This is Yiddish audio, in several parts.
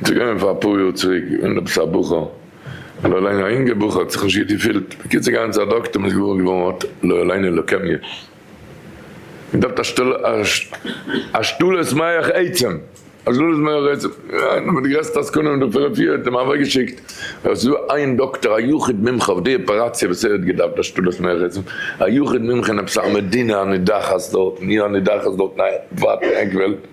עס איז געווען פאר אפאר יאר צוריק ווען עפעס א בחור, לא עלינו א אינגער בחור, האט זיך נישט גוט געפילט, בקיצור געגאנגען צו א דאקטער און איז געוואר געווארן ער האט לא עלינו לוקעמיע און דארפט א שתל א שתלת מח עצם א שתלת מח עצם איינער פון די גרעסטע עסקנים דא פון רפואה האט אים אוועק געשיקט ער איז דא איין דאקטער א יחיד מומחה אויף די אפעראציע וואס ער האט געדארפט א שתלת מח עצם א יחיד מומחה אין עפעס א מדינה הנידחת דארטן אי הנידחת דארטן א ווייטע עק וועלט.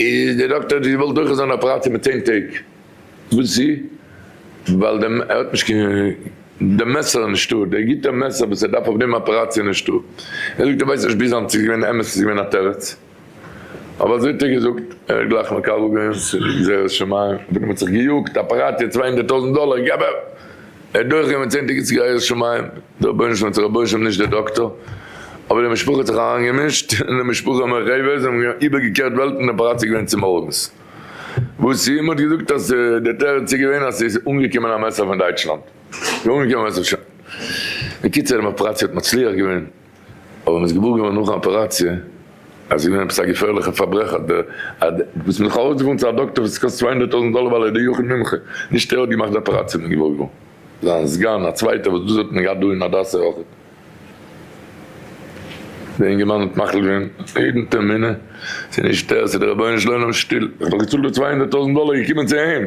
איז דער דאקטער האט געוואלט דורכערס אן אפעראציע מיט צען טעג וואס צו ווייל דער ער האט נישט קיין דער מעסער איז נישטא דער גוטע מעסער וואס ער דארף אויף דעם אפעראציע איז נישטא ער זאגט ער ווייסט נישט ביז היינט צו עס איז געווען אמת צו עס איז געווען א תירוץ אבער אזוי האט ער געזאגט ער האט גלייך מקבל געווען ס'איז גזירת שמים אויף דעם האט זיך געיאגט אפעראציע צוויי הונדערט טויזענט דאלער געב ער ער האט דורך גענומען צענדליגע ציגייערס שמים, דער רבונו של עולם האט זיך רבוש ע נישט דער דאקטאר, אבער די משפחה האט זיך אריין געמישט, און די משפחה און מרחביה זיי האבן איבער געקערט וועלטן און פאראציגט געווען צו מארגנס, וואס איהם האט געזאגט אז דער תירוץ איז געווען אז ס'איז אנגעקומען א מעסער פון דייטשלאנד, ס'איז אנגעקומען א מעסער פון. בקיצור די אפעראציע האט מצליח געווען. אבער מען איז געוואר געווארן נאכן אפעראציע אז עס איז געווען עפעס א געפערליכע פארברעך אז דער אז דער וואס מען האט זיך ארויסגעפארן צו א דאקטער וואס עס קאסט צוויי הונדערט טויזנט דאלער ווייל ער איז דער יחיד מומחה נישט ער האט געמאכט די אפעראציע מען איז געוואר געווארן זיין סגן א צווייטער וואס דאס האט מען געהאט דא אין הדסה אויך דער אינגערמאן האט מחליט געווען יעדן טערמינען ס'איז נישט ער ס'איז דער רבונו של עולם שטיל איך האב דאך געצאלט די צוויי הונדערט טויזנט דאלער איך געקומען צו אים.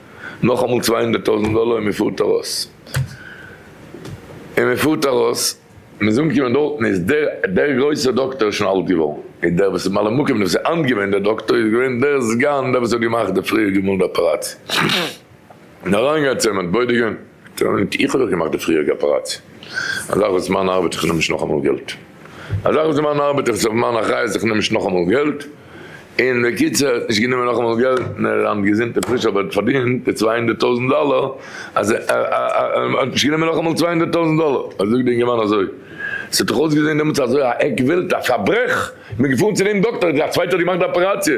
נאכאמאל צוויי הונדערט טויזענט דאלער און מען פארט ארויס, און מען פארט ארויס, מען איז אנגעקומען דארטן איז דער דער גרויסער דאקטאר שוין אלט געווארן, און דער וואס איז ממלא מקום דער וואס איז היינט געווען דער דאקטאר איז געווען דער סגן דער וואס האט געמאכט די פריערדיגע מאל די אפעראציע, און אריינגעהייצט אים אנטבוידיגען. און איך האב דאך געמאכט די פריעריגע אפעראציע, א זאך וואס איז מיין ארבעט איך נעם נישט נאכאמאל געלט, א זאך וואס איז מיין ארבעט איך איז אויף מיין אחריות איך נעם נישט נאכאמאל געלט, און בקיצור נישט גענומען נאכאמאל געלט, נער היינט געזונט און פריש אבער פארדינט די צוויי הונדערט טויזנט דאלער, אז האט נישט גענומען נאכאמאל צוויי הונדערט טויזנט דאלער, אז זאגט די אינגערמאן אזוי, עס האט דאך אויסגעזען דעמאלטס אזוי א עק וועלט א פארברעך, איך בין געפארן צו דעם דאקטער, א צווייטער האט געמאכט די אפעראציע.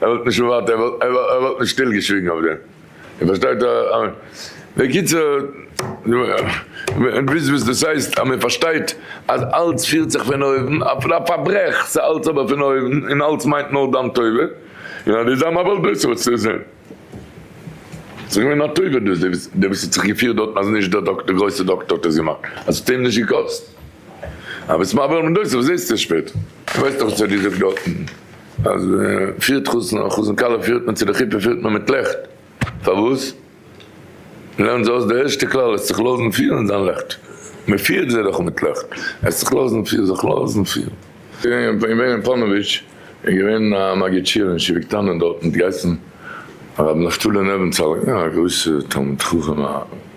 ער וואלט נישט ערווארט, ער וואלט נישט שטיל געשוויגן אויף דעם, איר פארשטייט? בקיצור, וויסט וואס דאס הייסט אז מען פארשטייט אז אלץ פירט זיך פון אויבן, אפילו א פארברעך, ס'איז אלץ אבער פון אויבן, און אלץ מיינט נאר דיין טובה, און אז דו ביסט א מבל דעת האסטו עס אינזין, ס'איז געווען א טובה דאס, דער וואס האט זיך געפירט דארטן אז נישט דער דאקטער, דער גרויסער דאקטער האט עס געמאכט, אז ס'האט אים נישט געקאסט, אז ביסט מבל דעת, וואס זעסטו עס שפעטער? ווייסט דאך וואס ער האט געזאגט דארטן. אז מען פירט חתן און חתן כלה פירט מען צו די חופה פירט מען מיט לעכט, פארוואס? לערנט זיי אויס די ערשטע כלל, האסט זיך לאזן פירן זיין לעכט, מען פירט זיי דאך מיט לעכט, האסט זיך לאזן פירן זיך לאזן פירן. איך בין געווען אין פאנאוויטש, איז געווען א מגיד שיעור אין שבט קטן דארט, מען האט געהייסן הרב נפתלי נעווענצאל, א גרויסע תלמיד חכם א.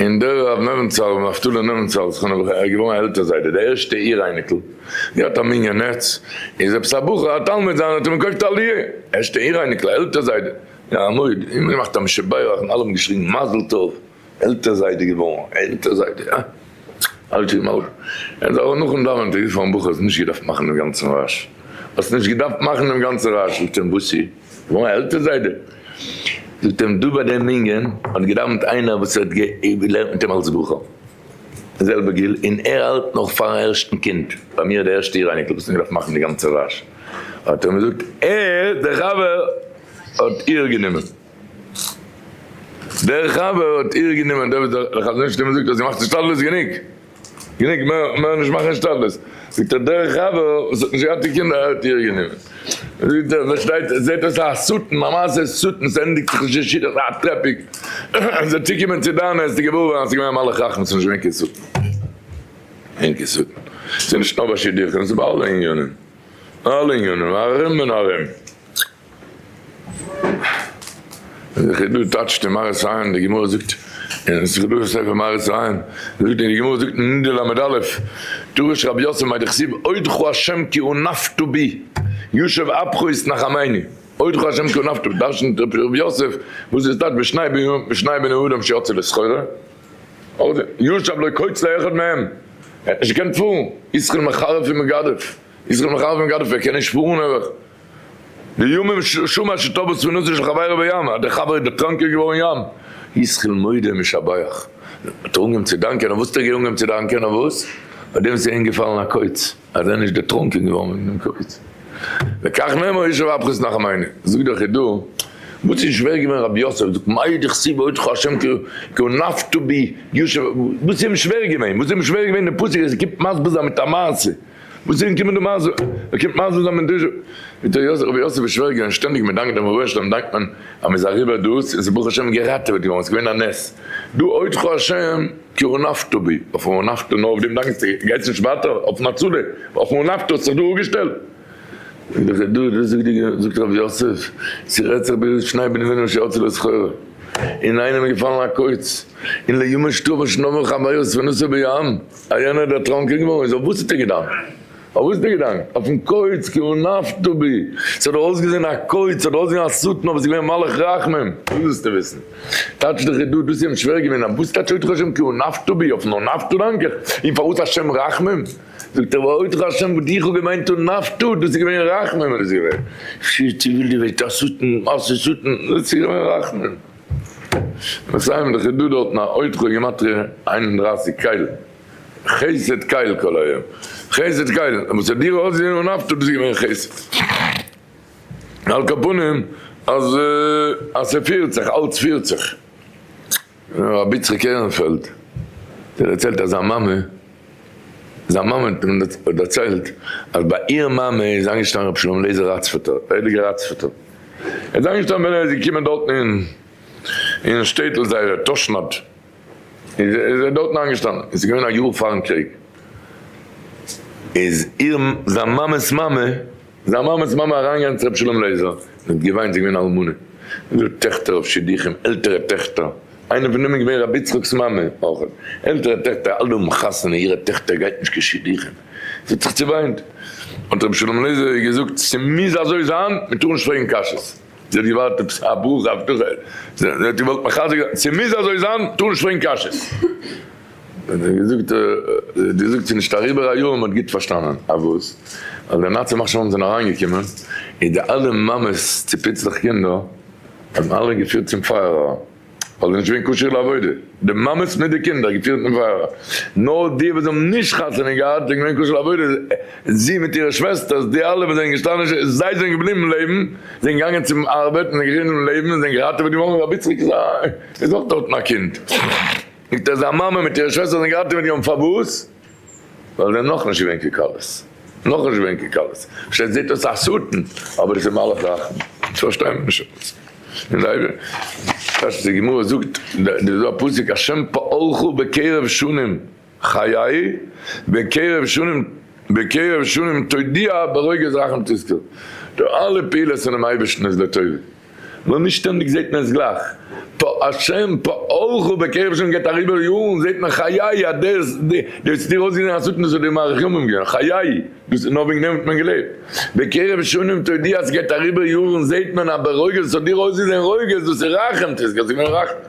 און דער רב נעבענצאל, ר' נפתלי נעבענצאל זכרונו לברכה, ער איז געווארן א עלטער זיידע, די ערשטע איר אייניקל, געהאט א מנין נעץ, איז עפעס א בחור א תלמיד זיינער האט אים געקויפט א לויה, ערשטע איר אייניקל, א עלטער זיידע, און א מויד, און געמאכט א משב בית און אלע האבן געשריגן מזל טוב, עלטער זיידע געווארן, עלטער זיידע, אה! אלטע איז מלכ. ער האט אבער נאכן דאווענען צוריקגעפארן בחור האסט נישט געדארפט מאכן דעם גאנצן רעש, האסט נישט געדארפט מאכן דעם גאנצן רעש, זאגט אים וואסי? מיין עלטער זיידע זאגט אים דא ביי דעם מנין האט געדאווענט איינער וואס האט געלערנט מיט אים אלס בחור די זעלבע גיל און ער האלט נאך פארן ערשטן קינד ביי מיר די ערשטע איר אייניקל וואס האט געדארפט מאכן די גאנצע וואש האט ער מיר געזאגט ער דער חבר האט איר גענומען דער חבר האט איר גענומען דער וואס דער חזון איש האט אים געזאגט אז זי מאכט השתדלות גענוג. גענוג, מער נישט מאכן השתדלות. זאגט ער, דער חבר וואס האט נישט געהאט די קינדער האט איר גענומען. זאגט ער, פארשטייט זיך, זעט אויס א שטן, א מעשה שטן, ס'ענדיגט זיך נישט אין שידוך, א טרעפיק, זיי צוקומען צו דיין, העסטו געוואר ווערן אז ס'איז געווען א מלאך רחמ, ס'איז נישט געווען קיין שטן. אין קיין שטן. ס'איז נישט נאר ביי שידוכים, ס'איז ביי אלע עניינים. אלע עניינים, ארום און ארום. איז דאך דא טייטשט אין מהרס א, די גמרא זאגט אין סגולה ספר מהרס א, זאגט אין די גמרא זאגט אין נדה ל' א, דרש רבי יוסף מאי דכסיב אודך השם כי אונפתא בי, יושב אפך יתנחמני, אודך השם כי אונפתא בי, דרשנ'ט רבי יוסף וואס דאס טייטשט בשניי בני אדם שיצא לסחורה, ישב לא קוץ לו אחד מהם, ער האט נישט געקענט פארן, ישכר מחרף ומגדף, ישכר מחרף ומגדף, ער קען נישט פארן נעבעך. די ימים שומר שתבוא ספינותו של חברו בים, אז דער חבר איז דערטראנקען געווארן ים, ישכיל מודה ומשבח, האט ער אנגעהויבן צו דאנקען, אויף וואס האט ער געהאנגען צו דאנקען? אויף וואס? פאר דעם וואס ער איז געפאלן א קוץ, אז ער איז נישט דערטראנקען געווארן וועגן דעם קוץ. וכך נאמר איש ואפכו סנח מיינע, זאגט דער חידא, וואס איז שווער געווען רבי יוסף, זאגט מאי דכסיב ואודך השם כעון נפתו בי ישוב, וואס איז אים שווער געווען, וואס איז אים שווער געווען דעם פסוק, אז ער קומט מסביר זיין מיט א מעשה, וואס איז געקומען דעם מזל? ער קומט מזל זיין מדוז'ע ווי דער רבי יוסף איז שווער געווען שטענדיג מדאנקט דעם רבונו של עולם דאנקט מען אז מען איז אריבער דאס און ס'איז ברוך השם געראטעוועט געווארן עס איז געווען א נס דא אודך השם כי רנפת בי אויף רנפת נאר אויף דעם דאנקסטו גייסט נישט ווייטער אויפן הצלה אויף רנפת האסט זיך דא אפגעשטעלט זאגט רבי יוסף ס'רעדט זיך ביז שני בני בנו של הצלה זכור אינאיינעם איז געפאלן א קוץ און ליומא שטובא שנאבען חביות ונוסעו בים א יענער דער טראנקען געווארן איז אויף וואס האט ער געדאנקט? אויף וואס האט ער געדאנקט? אויפן קויץ כי הוא נפתה בי. ס'האט דאך אויסגעזען א קויץ, ס'האט דאך אויסגעזען א שטן אבער ס'איז געווען מלאך רחמים. וואס ווילסטו וויסן? טייטש דאך איז דא, דאס איז אים שווער געווען, אויף וואס טייטש אותך השם כי הוא נפתה בי? אויפן הוא נפתה דאנק איך? און פארוואס השם רחמים? זאגט ער ווייל אותך השם וואס דיך האט געמיינט הוא נפתה, דאס איז געווען רחמים איז געווען. שיט, איך וויל דיר וועגט א שטן, א שטן, דאס איז געווען רחמים. מסיימען דאך איז דא דארטן א עוד חו גימטריא איין און דרײַסיק קייל, חסד קייל כל היום, חסד קייל, און וואס האט דיר אויסגעזעהן אן אפטער דאס איז געווען חסד, על כל פנים אז אז ס'פירט זיך אלץ פירט זיך. רבי יצחק עהרענפעלד דערציילט אז זיין מאמע. זיין מאמע האט דערציילט אז ביי איהר מאמע איז איינגעשטאנען רבי שלום אליעזר ראצפערטער, א הייליגער ראצפערטער איז איינגעשטאנען ווען ער איז געקומען דארטן אין שטעטל זייער תשנד איז ער דארטן איינגעשטאנען און ס'איז געווען א יאר פארן קריג איז איהר זיין מאמע'ס מאמע זיין מאמע'ס מאמע אריינגעגאנגען צו רבי שלום לעזער און האט געוויינט, זי איז געווען אלמנה און געהאט טעכטער אויף שידוכים, עלטערע טעכטער, איינע פון דעם איז געווען רבי יצחק'ס מאמע אויך, עלטערע טעכטער אלע האבן חתונה, אירע טעכטער גייט נישט קיין שידוכים, זי האט זיך צעוויינט, האט רבי שלום לעזער איר געזאגט, ס'מוז אזוי זיין, מען טאר נישט פרעגן קשיות, זי האט געווארט עפעס א ברכה, הבטחה, זי האט געוואלט מחזק זיין, ס'מוז אזוי זיין, מען טאר נישט פרעגן קשיות. האט געזאגט דו זאגט ס'איז נישט אריבער א יאר מ'האט גוט פארשטאנען אז וואס? אז די נאצי מחשבים זענען אריינגעקומען און די אלע מאמעס צו פיצלעך קינדער האבן אלע געפירט צום פייערער ווייל זיי נישט געווען כשיר לעבודה די מאמעס מיט די קינדער געפירט צום פייערער נאר די וואס האבן נישט חתונה געהאט זענען געווען כשיר לעבודה זי מיט אירע שוועסטערס די אלע וואס זענען געשטאנען זיי זענען געבליבן לעבן זענען געגאנגען צום ארבעט און זענען געבליבן לעבן און זענען געראטעוועט געווארן רבי צדוק זי איז אויך דארטן א קינד. זאגט ער זיין מאמע מיט אירע שוועסטער זענען געהאלטען מיט אים פארוואס? ווייל זיי זענען נאכנישט געווען כקלות נאכנישט געווען כקלות אפשר זעט אויס א שטן אבער עס איז מלאך רחמים עס פארשטיי מען נישט עפעס און זיי כאטש די גמרא זאגט דא איז דא א פסוק השם פארך בקרב שנים חיי בקרב שנים בקרב שנים תודיע ברוגז רחם תזכה די אלע פעולות פונעם אייבערשטן איז לטובה. נאר נישט שטענדיג זעהט מען עס גלייך, פה השם פעלך בקרב השם גייט אריבער יארן זעהט מען חיי אז דעס דאס האט דיר אויסגעזעהן א סכנה ס'האט דיר מאריך ימים געווען חיי דאס איז נאר וועגן דעם האט מען געלעבט בקרב שנים תודיע אז ס'גייט אריבער יארן זעהט מען אז ברוגז ס'האט דיר אויסגעזעהן רוגז דאס איז רחמ ט ס'גייט זיך ווען רחמ ט.